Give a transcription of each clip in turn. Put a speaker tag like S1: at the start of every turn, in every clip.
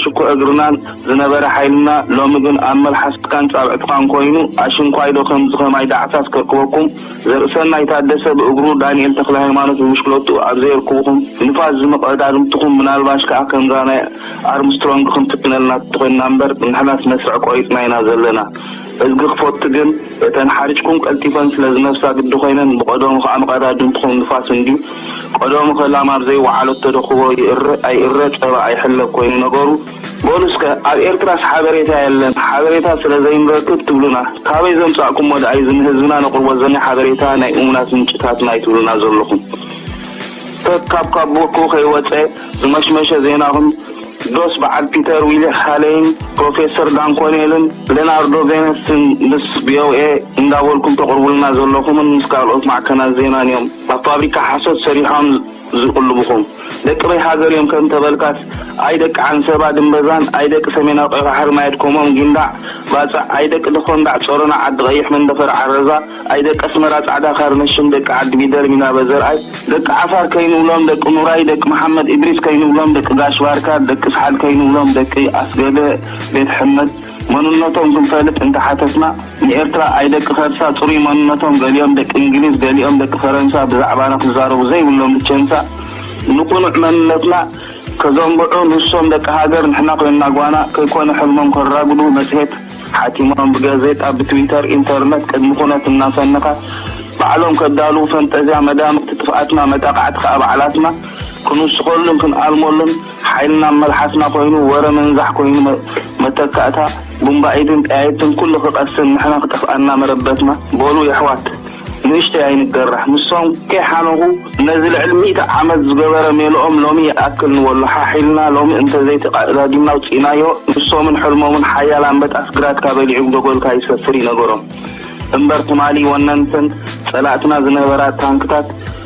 S1: ሽኮ እግርናን ዝነበረ ሓይልና ሎሚ ግን ኣብ መልሓስካን ጻብዕትኻን ኮይኑ ኣሽንኳይዶ ከምዚ ከማይ ዳዕሳስ ከርክበኩም ዘርእሰናይ ታደሰ ብእግሩ ዳንኤል ተክለሃይማኖት ብብሽክለትኡ ኣብ ዘየርክብኹም ንፋስ ዝምቐዳድምትኹም ምናልባሽ ከኣ ከምዛ ናይ ኣርምስትሮንግ ክንፍትነልና ተኾይንና እምበር ንሕናስ መስርዕ ቆሪጽና ኢና ዘለና። እዝጊ ክፎቲ ግን እተን ሓሪጭኩም ቀልጢፈን ስለ ዝነፍሳ ግዲ ኮይነን ብቀደሙ ከኣ መቀዳድምትኹም ንፋስ እንድዩ። ቀደሙኸ ላም ኣብ ዘይወዓለቶዶ ኩቦ ይእረ ኣይእረ ጸባ ኣይሕለብ ኮይኑ ነገሩ። በሉ እስከ ኣብ ኤርትራስ ሓበሬታ የለን ሓበሬታ ስለ ዘይንረክብ ትብሉና ካበይ ዘምጻእኩሞ ደኣዩ እዚ ንህዝብና ነቅርቦ ዘና ሓበሬታ ናይ እሙናት ምንጭታትና እዩ ትብሉና ዘለኹም ከካብ ካቦኩ ከይወጸ ዝመሽመሸ ዜናኹም ዶስ በዓል ፒተር ዊሊክ ሃለይን ፕሮፌሰር ዳን ኮኔልን ሌናርዶ ቬነስን ምስ ቪኦኤ እንዳበልኩም ተቕርቡልና ዘለኹምን ምስ ካልኦት ማዕከናት ዜናን እዮም ኣብ ፋብሪካ ሓሶት ሰሪሖም ዝቕልቡኹም? ደቂ በይ ሃገር እዮም ከም ተበልካስ ኣይ ደቂ ዓንሰባ ድምበዛን ኣይ ደቂ ሰሜናዊ ቀይባሕሪ ማየድኮሞም ጊንዳዕ ባጽዕ ኣይ ደቂ ደኾንዳዕ ጾሮና ዓዲ ቐይሕ መንደፈራ ዓረዛ ኣይ ደቂ ኣስመራ ጻዕዳ ካርነሽም ደቂ ዓዲ ጊደር ሚናበ ዘርኣይ ደቂ ዓፋር ከይንብሎም ደቂ ኑራይ ደቂ መሓመድ ኢድሪስ ከይንብሎም ደቂ ጋሽ ባርካ ደቂ ስሓል ከይንብሎም ደቂ ኣስገደ ቤት ሕመድ መንነቶም ክንፈልጥ እንተ ሓተትና ንኤርትራ ኣይ ደቂ ከርሳ ጽሩይ መንነቶም ገሊኦም ደቂ እንግሊዝ ገሊኦም ደቂ ፈረንሳ ብዛዕባና ክዛረቡ ዘይብሎም ብቸንሳ ንቁኑዕ መንነትና ከዘንብዑ ንሶም ደቂ ሃገር ንሕና ኮይንና ጓና ከይኮነ ሕልሞም ከራጉዱ መጽሄት ሓቲሞም ብጋዜጣ ብትዊተር ኢንተርነት ቅድሚ ኩነት እናሰነኻ ባዕሎም ከዳልዉ ፈንጠዝያ መዳምግቲ ጥፍኣትና መጣቓዕቲ ከኣ ባዕላትና ክንውስኸሉን ክንኣልመሉን ሓይልና ኣብ መልሓስና ኮይኑ ወረ ምንዛሕ ኮይኑ መተካእታ ቡምባኢድን ጠያይትን ኩሉ ክቐስን ንሕና ክጠፍኣና መረበትና በሉ የሕዋት ንእሽተይ ኣይንገራሕ ንሶም ከይሓነኹ ነዚ ልዕሊ ሚእቲ ዓመት ዝገበረ ሜልኦም ሎሚ ይኣክል ንበሎ ሓሕ ኢልና ሎሚ እንተዘይ ተቃእዳዲምና ኣውጺእናዮ ንሶምን ሕልሞምን ሓያል ኣምበጣ ስግራትካ በሊዑ ብደጎልካ ይሰፍር እዩ ነገሮም እምበር ትማሊ ወነንተን ጸላእትና ዝነበራ ታንክታት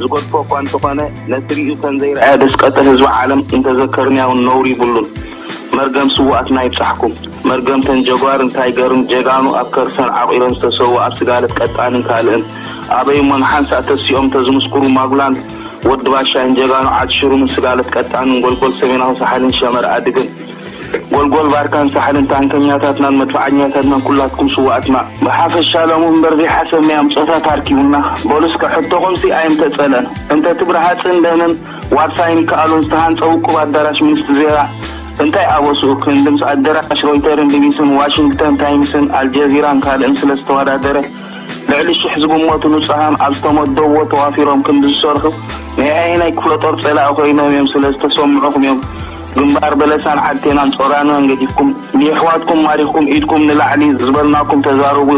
S1: ዝገድፎ እኳ እንተኾነ ነቲ ሪኡ ከምዘይረኣየ ደስቀጥር ህዝቢ ዓለም እንተዘከርንያውን ነውሪ ይብሉን መርገም ስውኣትና ይብጻሕኩም መርገምተን ጀጓርን ታይገርን ጀጋኑ ኣብ ከርሰን ዓቂረን ዝተሰውኣ ስጋለት ቀጣንን ካልእን ኣበይ እሞ ንሓንሳእ ተሲኦም እንተዝምስኩሩ ማጉላን ወዲ ባሻይን ጀጋኑ ዓድሽሩምን ስጋለት ቀጣንን ጎልጎል ሰሜናዊ ሳሕልን ሸመር ኣድግን ጎልጎል ባርካን ሳሕልን ታንከኛታትናን መድፍዓኛታትናን ኩላትኩም ስውኣትና ብሓፈሻ ሎሚ እምበር ዘይሓሰብ ናይ ኣምጾታት ኣርኪቡና በሉ እስከ ሕቶኹምሲ ኣይምተጸለን እንተትብር ሃጽን ደንን ዋርሳይን ይከኣሉን ዝተሃንጸ ውቁብ ኣዳራሽ ሚንስት ዜራ እንታይ ኣበስኡ ክንድምስ ኣደራሽ ሮይተርን ቢቢስን ዋሽንግተን ታይምስን ኣልጀዚራን ካልእን ስለ ዝተወዳደረ ልዕሊ ሽሕ ዝግመቱ ንጹሃም ኣብ ዝተመደብዎ ተዋፊሮም ክንዲ ዝሰርሑ ናይ ኣየናይ ክፍለጦር ጸላኢ ኮይኖም እዮም ስለ ዝተሰምዑኹም እዮም ግንባር በለሳን ዓድቴናን ጾራናን ገዲፍኩም ንየሕዋትኩም ማሪኽኩም ኢድኩም ንላዕሊ ዝበልናኩም ተዛረቡ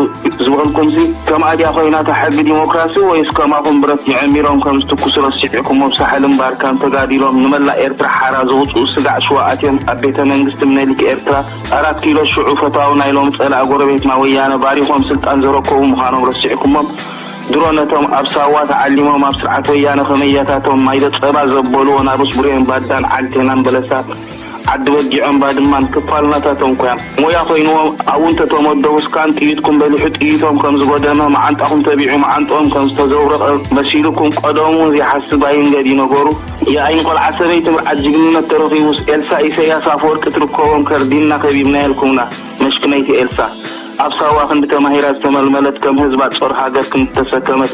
S1: ዝበልኩምሲ ከምኣ ድያ ኮይና እታ ሕጊ ዲሞክራሲ ወይስ ከማኹም ብረት ጀዐሚሮም ከም ዝትኩሱ ረሲዕኩሞብ ሳሕልን ባርካን ተጋዲሎም ንመላእ ኤርትራ ሓራ ዘውጽኡ ስጋዕ ሽዋ ኣትዮም ኣብ ቤተ መንግስቲ ምነሊክ ኤርትራ ኣራት ኪሎ ሽዑ ፈታዊ ናይ ሎሚ ጸላኢ ጎረቤትና ወያነ ባሪኾም ስልጣን ዘረከቡ ምኻኖም ረሲዕኩሞም ድሮ ነቶም ኣብ ሳዋ ተዓሊሞም ኣብ ስርዓት ወያነ ከም ኣያታቶም ማይደ ጸባ ዘበሉ ወናብርስ ቡሬን ባዳን ዓድቴናን በለሳ ዓዲ በጊዖን ባድማን ክፋልናታቶም ኮያ ሞያ ኮይንዎም ኣብኡ እንተ ተመደቡ ስካን ጥይትኩም በሊሑ ጥይቶም ከም ዝጎደመ መዓንጣኹም ተቢዑ መዓንጥኦም ከም ዝተዘብረቐ መሲሉኩም ቀደሙ ውን ዘይሓስብ ኣይንገድ ዩ ነገሩ ያኢ ንቆልዓ ሰበይቲ ምርዓድ ጅግንነት ተረኺቡስ ኤልሳ ኢሰያስ ኣፈወርቂ ትርከቦም ከርዲንና ከቢብናየልኩምና። መሽክነይቲ ኤልሳ ኣብ ሳዋ ክንዲ ተማሂራ ዝተመልመለት ከም ህዝባ ጾር ሃገር ክንዲ ተሰከመት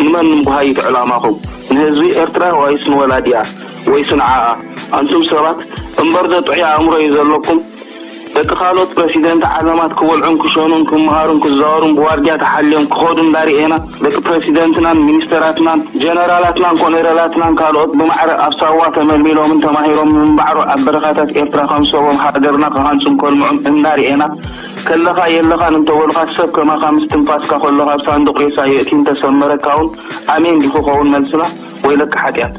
S1: ንመን ንምጉሃይት ዕላማኹም ንህዝቢ ኤርትራ ዋይስ ንወላዲኣ ወይሲ ንዓኣ ኣንቱም ሰባት እምበርዶ ጥዑይ ኣእምሮ እዩ ዘለኩም ደቂ ካልኦት ፕረሲደንት ዓለማት ክበልዑን ክሸኑን ክመሃሩን ክዛወሩን ብዋርድያ ተሓልዮም ክኸዱ እንዳርኤና ደቂ ፕረሲደንትናን ሚኒስተራትናን ጀነራላትናን ኮሎኔላትናን ካልኦት ብማዕረ ኣብ ሳዋ ተመልሚሎምን ተማሂሮምን ምንባዕሮ ኣብ በረኻታት ኤርትራ ከም ሰቦም ሃገርና ክሃንጹን ከልምዑን እናርኤና ከለኻ የለኻን እንተበሉኻ ሰብ ከማኻ ምስ ትንፋስካ ከሎ ካብ ሳንዱቕ ሬሳ የእትዩ እንተሰመረካውን ኣሜን ዲዩ ክኸውን መልስና ወይለከ ሓጢኣት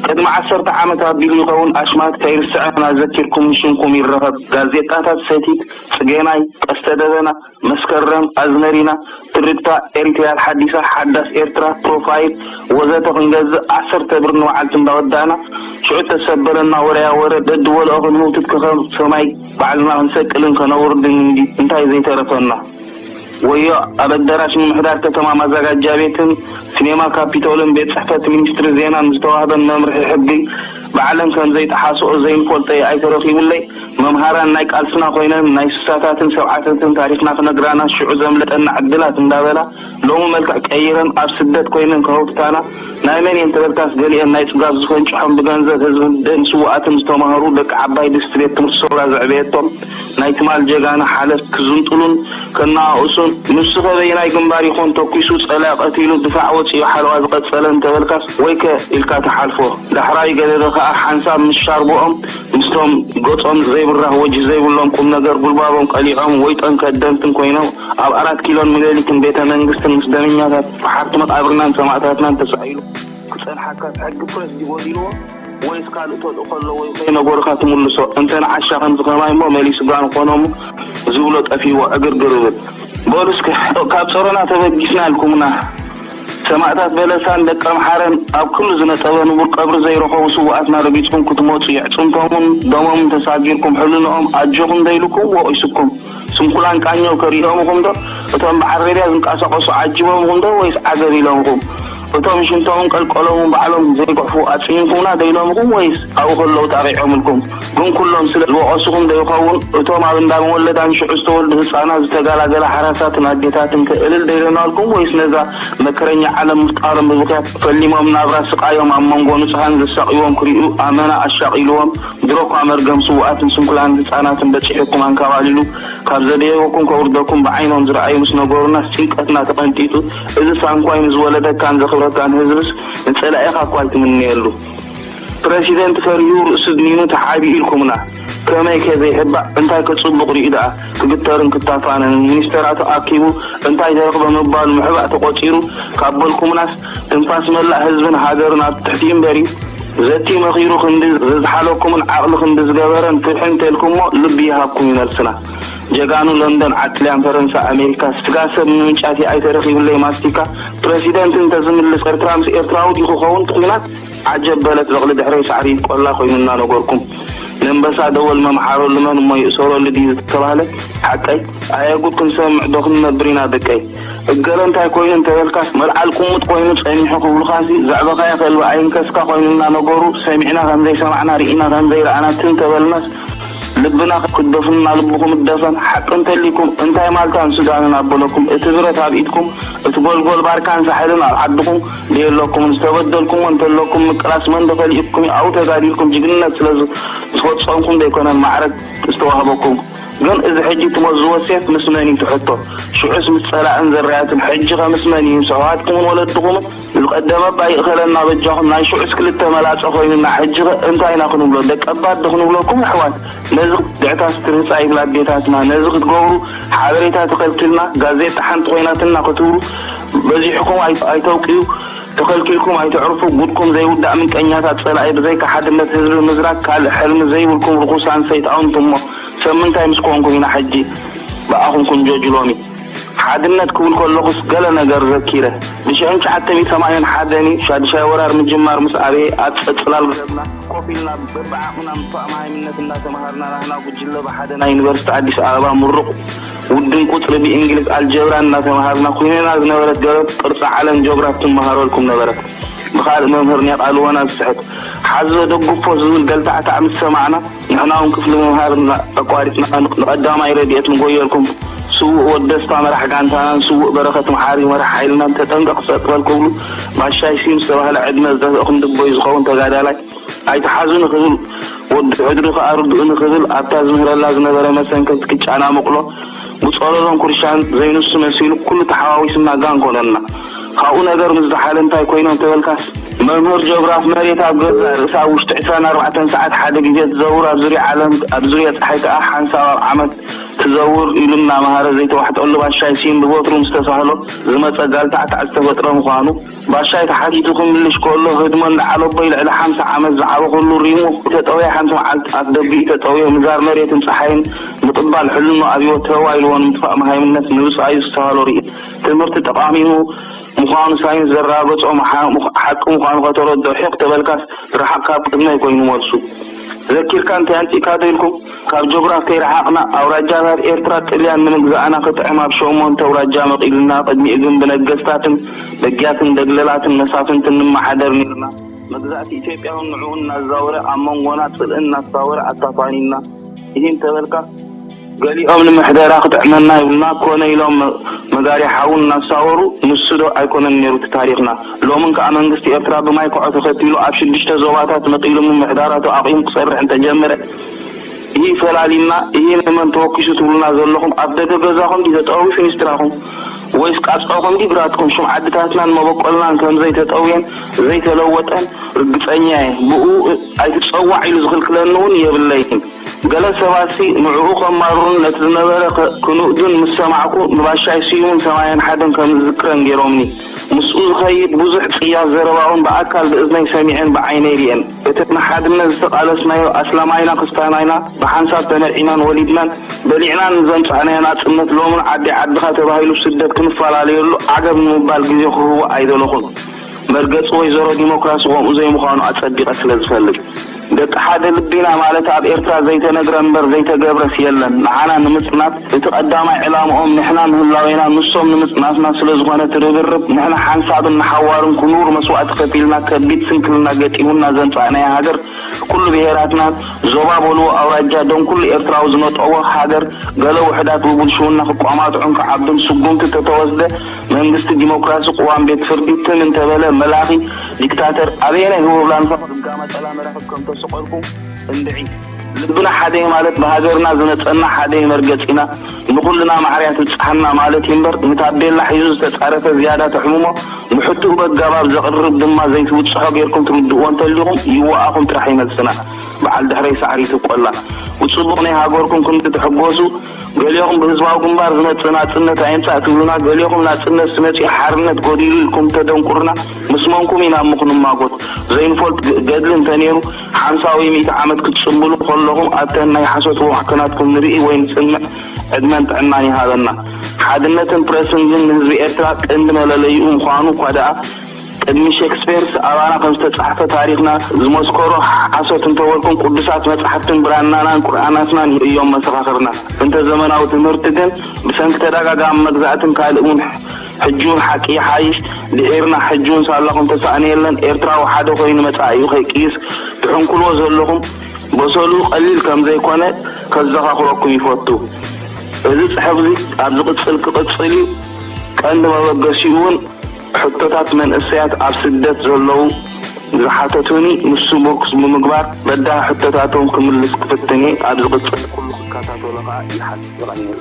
S1: ቅድሚ ዓሰርተ ዓመት ኣቢሉ ይኸውን ኣሽማት ከይርስዐን ኣዘኪርኩምን ሽምኩም ይረኸብ ጋዜጣታት ሰቲት ጽጌናይ ቀስተ ደበና መስከረም፣ ኣዝመሪና፣ ትርግታ፣ ኤሪትሪያል ሓዲሳ፣ ሓዳስ ኤርትራ፣ ፕሮፋይል፣ ወዘተ ክንገዝእ ዓሰርተ ብር ንበዓልቲ እንዳወዳእና ሽዑ እተሰበረና ወረያ ወረ ደድበልኦ ክንህውትት ከከም ሰማይ ባዕልና ክንሰቅልን ከነውርድን እንዲ እንታይ ዘይተረፈና። ወዮ ኣብ ኣደራሽ ምምሕዳር ከተማ ማዛጋጃ ቤትን ሲኔማ ካፒቶልን ቤት ጽሕፈት ሚኒስትሪ ዜናን ዝተዋህበን መምርሒ ሕጊ ባዕለን ከምዘይጠሓስኦ ዘይንፈልጦ ይኣይ ተረኪቡለይ። መምሃራን ናይ ቃልስና ኮይነን ናይ ስሳታትን ሰብዓታትን ታሪኽና ክነግራና ሽዑ ዘምለጠና ዕድላት እንዳበላ ሎሚ መልክዕ ቀይረን ኣብ ስደት ኮይነን ከሀውትታና ናይ መን እየን ተበልካስ ገሊኤን ናይ ጽጋብ ዝፈንጭሖም ብገንዘብ ህዝብን ደም ስውኣትን ዝተማህሩ ደቂ ዓባይ ድስቲ ቤት ትምህርቲ ሰውራ ዘዕበየቶም ናይ ትማል ጀጋኑ ሓለፍት ክዝንጥሉን ከነኣእሱን ንሱኸ በየናይ ግንባር ይኾን ተኲሱ ጸላኢ ቀቲሉ ድፋዕ ወጺኡ ሓለዋ ዝቐጸለን ተበልካስ ወይከ ኢልካ ትሓልፎ ዳሕራይ ገደደ ከኣ ሓንሳብ ምስ ሻርብኦም ምስቶም ገጾም ዘይብራህ ወጅህ ዘይብሎም ቁምነገር ጉልባቦም ቀሊዖም ወይጦን ከደምትን ኮይኖም ኣብ ኣራት ኪሎን ምለሊትን ቤተ መንግስትን ምስ ደመኛታት ፈሓርቲ መቃብርናን ሰማእታትናን ተሳኢሉ ክጸንሓካስ ሕጊ ፕረስ ድዩ ጎዲልዎ ወይስ ካልእ ተልእኮ ኣለዎ ይኾይ ነገሩካ ትምልሶ እንተ ንዓሻ ከምዚ ከማይ እሞ መሊሱ ጋን ኾኖሙ ዝብሎ ጠፊዎ ዕግርግር እብል በሉ እስከ ካብ ጸሮና ተበጊስና ኢልኩምና ሰማእታት በለሳን ደቀምሓረን ኣብ ክሉ ዝነጠበ ንቡር ቀብሪ ዘይረኸቡ ስውኣትና ረጊጽኩም ክትመጹ የዕጽምቶምን ደሞምን ተሳጊርኩም ሕልንኦም ኣጆኹም ዘይልኩም ወቒሱኩም ስንኩላን ቃኘው ከሪኦምኹምዶ እቶም ብዓረብያ ዝንቃሳቐሱ ዓጂቦምኹምዶ ወይስ ዓገብ ኢሎምኹም እቶም ሽንቶምን ቀልቀሎምን ባዕሎም ዘይጉሕፉ ኣጽሚምኩምና ዶ ኢሎምኹም ወይስ ኣብኡ ከለዉ ጣቒዖምልኩም ግን ኩሎም ስለ ዝወቐሱኹም ዶ ይኸውን? እቶም ኣብ እንዳ መወለዳን ሽዑ ዝተወልዱ ህጻናት ዝተጋላገላ ሓራሳትን ኣዴታትንከ እልል ዶ ኢሎናልኩም? ወይስ ነዛ መከረኛ ዓለም ምፍጣሮም ብብኽያት ፈሊሞም ናብራ ስቓዮም ኣብ መንጎ ንጹሃን ዘሳቕዩዎም ክርእዩ ኣመና ኣሻቒሉዎም? ድሮኳ መርገም ስዉኣትን ስንኩላን ህጻናትን በጺሑኩም ኣንካባሊሉ ካብ ዘደየበኩም ከውርደኩም ብዓይኖም ዝረኣዩ ምስ ነገሩናስ ጭንቀትና ተቐንጢጡ እዝስ ኣንኳይ ንዝወለደካን ዘኽብረካን ህዝብስ ንጸላኢኻኳ ኣይትምነየሉ ፕረሲደንት ፈሪሁ ርእሱ ድኒኑ ተሓቢኡ ኢልኩምና ከመይ ከ ዘይሕባእ እንታይ ከ ጽቡቅ ሪኡ ደኣ ክግተርን ክታፋነንን ሚኒስተራቱ ኣኪቡ እንታይ ተረኽበ ምባሉ ምሕባእ ተቆጺሩ ካብ በልኩምናስ ትንፋስ መላእ ህዝብን ሃገርን ኣብ ትሕቲኡ እምበሪ ዘትዩ መኺሩ ክንዲ ዘዝሓለኩምን ዓቅሊ ክንዲ ዝገበረን ፍትሒ እንተልኩሞ ልቢ ይሃብኩም ዩ መልስና ጀጋኑ ለንደን ዓድ ጥልያን ፈረንሳ ኣሜሪካ ስጋ ሰብ ምምንጫት ይኣይ ተረኺብለይ ማስቲካ ፕረሲደንት እንተ ዝምልስ ኤርትራ ምስ ኤርትራዊ ድዩ ክኸውን ትኩናት ዓጀብ በለት በቕሊ ድሕረይ ሳዕሪ ቆላ ኮይኑ እናነገርኩም ነንበሳ ደወል መምሓረሉ መን እሞ ይእሰረሉ ድዩ ዝተባህለ ሓቀይ ኣየ ጉድ ክንሰምዕ ዶ ክንነብር ኢና ደቀይ እገለ እንታይ ኮይኑ እንተበልካስ መልዓል ቁሙጥ ኮይኑ ጸኒሑ ክብሉኻሲ ዘዕበኻዮ ከልቢ ኣይንከስካ ኮይኑና ነገሩ ሰሚዕና ከምዘይሰማዕና ርኢና ከምዘይረኣና ትም ተበልናስ ልብና ክትደፍኑና ልብኹም እደፈን ሓቂ እንተልይኩም እንታይ ማልታን ሱዳንን ኣበለኩም እቲ ብረት ኣብ ኢድኩም እቲ ጎልጎል ባርካን ሳሕልን ኣብ ዓድኹም ዘየለኩምን ዝተበደልኩሞ እንተለኩም ምቅላስ መንዶ ከሊኡኩም እዩ ኣብኡ ተጋዲልኩም ጅግንነት ስለ ዝፈጸምኩም ዘይኮነ ማዕረግ ዝተዋህበኩም ግን እዚ ሕጂ ትመዝዎ ሴፍ ምስ መን እዩ ትሕቶ ሽዑስ ምስ ጸላእን ዘራያትን ሕጂኸ ምስ መን እዩ ምስ ኣሕዋትኩምን ወለድኹምን ዝቀደመ እባ ይእኸለና በጃኹም ናይ ሽዑስ ክልተ መላጸ ኮይኑና ሕጂኸ እንታይ ኢና ክንብሎ ደቀባት ዶ ክንብለኩም ኣሕዋት ነዚ ክትግዕታስ ትርህጻ ይብላ ኣዴታትና ነዚ ክትገብሩ ሓበሬታ ተኸልኪልና ጋዜጣ ሓንቲ ኮይናትና ክትብሉ በዚሕኩም ኣይተብቅዩ ተኸልኪልኩም ኣይተዕርፉ ጉድኩም ዘይውዳእ ምንቀኛታት ጸላኢ ብዘይካ ሓድነት ህዝቢ ምዝራግ ካልእ ሕልሚ ዘይብልኩም ርኹሳን ሰይጣውንቲ እሞ ሰብ ምንታይ ምስ ኮንኩም ኢና ሕጂ ብኣኹም ክንጆጅ ሎሚ ሓድነት ክብል ከለኹስ ገለ ነገር ዘኪረ ብሽሕን ትሽዓተ ሚእቲ ሰማንያን ሓደን እዩ ሻድሻይ ወራር ምጅማር ምስ ኣብየ ኣብ ጸጽላል ገረብና ኮፍ ኢልና በብዓቕምና ምስ ተኣማሃይምነት እንዳተመሃርና ናህና ጉጅለ ብሓደ ናይ ዩኒቨርሲቲ ኣዲስ ኣበባ ምሩቕ ውድን ቁጽሪ ብእንግሊዝ ኣልጀብራ እናተመሃርና ኩይነና ዝነበረት ደረት ቅርጺ ዓለም ጆግራፍ ትመሃረልኩም ነበረት ብካልእ መምህር ኔቃልወና ዝስሕት ሓዞ ደግፎ ዝብል ገልታዕታዕ ምስ ሰማዕና ንሕናውን ክፍሊ ምምሃር ኣቋሪጽና ንቀዳማይ ረድኤት ንጎየልኩም ስውእ ወድ ደስታ መራሕ ጋንታናን ስውእ በረኸት መሓሪ መራሕ ሓይልናን ተጠንቀቅ ጸጥ በል ክብሉ ባሻይ ስዩም ዝተባህለ ዕድመ ዝደፍእኩም ድቦይ ዝኸውን ተጋዳላይ ኣይትሓዙ ንክብል ወዲ ሕድሪ ከኣ ርድኡ ንክብል ኣብታ ዝምህረላ ዝነበረ መሰንከቲ ክጫናሙቅሎ ብጾሎሎን ኩርሻን ዘይንሱ መሲሉ ኩሉ ተሓዋዊስና ጋን ኮነና ካብኡ ነገር ምስ ዛሓለ እንታይ ኮይኖ እንተበልካስ መምህር ጆግራፍ መሬት ኣብ ገዛእ ርእሳ ኣብ ውሽጢ ዕስራን ኣርባዕተን ሰዓት ሓደ ግዜ ትዘውር ኣብ ዙርያ ዓለም ኣብ ዙርያ ጸሓይ ከኣ ሓንሳብ ኣብ ዓመት ትዘውር ኢሉ እናመሃረ ዘይተዋሕጠሉ ባሻይ ሲም ብበትሩ ምስ ተሳህሎ ዝመጸ ጋልታዕታዕ ዝተፈጥረ ምዃኑ ባሻይ ተሓቲቱ ክምልሽ ከሎ ህድሞ እንዳዓለቦይ ልዕሊ ሓምሳ ዓመት ዝዓበኹሉ ሪሙ ተጠውየ ሓንቲ መዓልቲ ኣፍ ደጊኡ ተጠውየ ምዛር መሬትን ጸሓይን ምቅባል ሕልኖ ኣብይዎ ተው ኢልዎ ንምጥፋእ መሃይምነት ንብጻዩ ዝስተሃሎ ሪኢት ትምህርቲ ጠቃሚኡ ምዃኑ ሳይንስ ዘራገጾ ሓቂ ምዃኑ ከተረድኦ ሒቕ ተበልካስ ርሓቕ ካብ ቅድመይ ኮይኑ መልሱ ዘኪርካ እንታይ ኣምጺእካዶ ኢልኩም ካብ ጆግራፍ ከይረሓቕና ኣውራጃታት ኤርትራ ጥልያን ንምግዛእና ክጥዕም ኣብ ሸሞንተ ኣውራጃ መቒሉና ቅድሚኡ ግን ብነገስታትን ደጊያትን ደግለላትን መሳፍንትን ንመሓደር ኔርና መግዛእቲ ኢትዮጵያውን ንዕኡ እናዛወረ ኣብ መንጎና ጽልኢ እናሳወረ ኣታፋኒና እሂ እንተበልካ ገሊኦም ንምሕደራ ክጥዕመና ይብሉና ኮነ ኢሎም መጋርያ ሓዊ እናሳወሩ ንሱ ዶ ኣይኮነን ኔሩ እቲ ታሪኽና ሎምን ከኣ መንግስቲ ኤርትራ ብማይ ኮዖ ተኸቲሉ ኣብ ሽዱሽተ ዞባታት መቒሉ ምምሕዳራቱ ኣቒሙ ክሰርሕ እንተጀመረ እሂ ፈላሊና እሂ ንመን ተወኪሱ ትብሉና ዘለኹም ኣብ ደገ ገዛኹም ድዩ ተጠውዩ ፊኒስትራኹም ወይስ ቃጽዖኹም ድዩ ግራትኩም ሽም ዓድታትናን መበቆልናን ከምዘይተጠውየን ዘይተለወጠን ርግጸኛ እየ ብእኡ ኣይትጸዋዕ ኢሉ ዝኽልክለኒ ውን የብለይን ገለ ሰባትሲ ንዕኡ ከማርሩን ነቲ ዝነበረ ክንእዱን ምስ ሰማዕኩ ንባሻይ ስዩምን ሰማየን ሓደን ከምዝዝክረን ጌሮምኒ ምስኡ ዝኸይድ ብዙሕ ጽያፍ ዘረባ ውን ብኣካል ብእዝነይ ሰሚዐን ብዓይነይ ሪኤን እቲ ንሓድነት ዝተቃለስናዮ ኣስላማይና ክስታናይና ብሓንሳብ ተነዒናን ወሊድናን በሊዕናን ንዘምጻእናዮ ናጽነት ሎሚ ንዓዲ ዓድኻ ተባሂሉ ብስደት ክንፈላለየሉ ዓገብ ንምባል ግዜ ክህቦ ኣይደለኹን መርገጺ ወይዘሮ ዲሞክራሲ ኮምኡ ዘይምዃኑ ኣጸቢቐ ስለ ዝፈልጥ ደቂ ሓደ ልቢና ማለት ኣብ ኤርትራ ዘይተነግረ እምበር ዘይተገብረስ የለን ንዓና ንምጽናት እቲ ቀዳማይ ዕላምኦም ንሕና ምህላዌና ንሶም ንምጽናትና ስለ ዝኾነ እቲ ርብርብ ንሕና ሓንሳብን ንሓዋሩን ክኑር መስዋእቲ ከፊልና ከቢድ ስንክልና ገጢሙና ዘምጻእናያ ሃገር ኩሉ ብሄራትና ዞባ በልዎ ኣውራጃ ደም ኩሉ ኤርትራዊ ዝነጠቦ ሃገር ገለ ውሕዳት ብብልሽውና ክቋማጥዑን ክዓብዱን ስጉምቲ ተተወስደ መንግስቲ ዲሞክራሲ ቁዋም ቤት ፍርዲ ትም እንተበለ መላኺ ዲክታተር ኣበየናይ ህቦብላ ንፈቐዶ ጋማጨላ መራኽብ ከምተሰቐልኩም እንድዒ ልብና ሓደ'ዩ ማለት ብሃገርና ዝነጸና ሓደ'ዩ መርገጺና ንኹልና ማዕር'ያ ትብጽሓና ማለት'ዩ እምበር ንታቤላ ሒዙ ዝተጻረፈ ዝያዳ ተሕምሞ ንሕቱኡ በጋባብ ዘቕርብ ድማ ዘይትብጽሖ ጌርኩም ትርድእዎ እንተሊኹም ይዋኣኹም ጥራሕ'ዩ መልስና በዓል ድሕረይ ሳዕሪት እብቆላ ብጽቡቕ ናይ ሃገርኩም ክንዲ ትሕጎሱ ገሌኹም ብህዝባዊ ግንባር ዝመጽእ ናጽነት ኣይምጻእ ትብሉና ገሌኹም ናጽነት ስመጺኡ ሓርነት ጎዲሉ ኢልኩም ተደንቁርና ምስ መንኩም ኢና እሞ ክንማጎት ዘይንፈልጥ ገድሊ እንተኔሩ ሓምሳ ወይ ሚእቲ ዓመት ክትጽምብሉ ከለኹም ኣብተን ናይ ሓሶት ወዋሕከናትኩም ንርኢ ወይ ንጽንዕ ዕድመን ጥዕናን ይሃበና ሓድነትን ፕረስን ግን ንህዝቢ ኤርትራ ቀንዲ መለለይኡ ምዃኑ እኳ ደኣ ቅድሚ ሼክስፔርስ ኣባና ከም ዝተጻሕፈ ታሪኽና ዝመስከሮ ሓሶት እንተ በልኩም ቅዱሳት መጻሕፍትን ብራናናን ቁርኣናትናን እዮም መሰኻኽርና። እንተ ዘመናዊ ትምህርቲ ግን ብሰንኪ ተዳጋጋሚ መግዛእትን ካልእ ውን ሕጂውን ሓቂ ይሓይሽ ድሒርና ሕጂውን ሳላኹም ተሳእኖ የለን ኤርትራዊ ሓደ ኮይኑ መጻኢኡ ከይቅይስ ትሕንኩልዎ ዘለኹም በሰልኡ ቀሊል ከም ዘይኮነ ከዘኻኽረኩም ይፈቱ። እዚ ጽሕፍዚ ኣብ ዝቅጽል ክቅጽል እዩ ቀንዲ መበገሲኡ ውን ሕቶታት መንእሰያት ኣብ ስደት ዘለዉ ዝሓተቱኒ ንሱ ምርኩስ ብምግባር በዳሂ ሕቶታቶም ክምልስ ክፍትን እየ። ኣብ ዝቕጽል ኩሉ ክከታተሎ ከኣ ይሓትት። የቐንየለይ።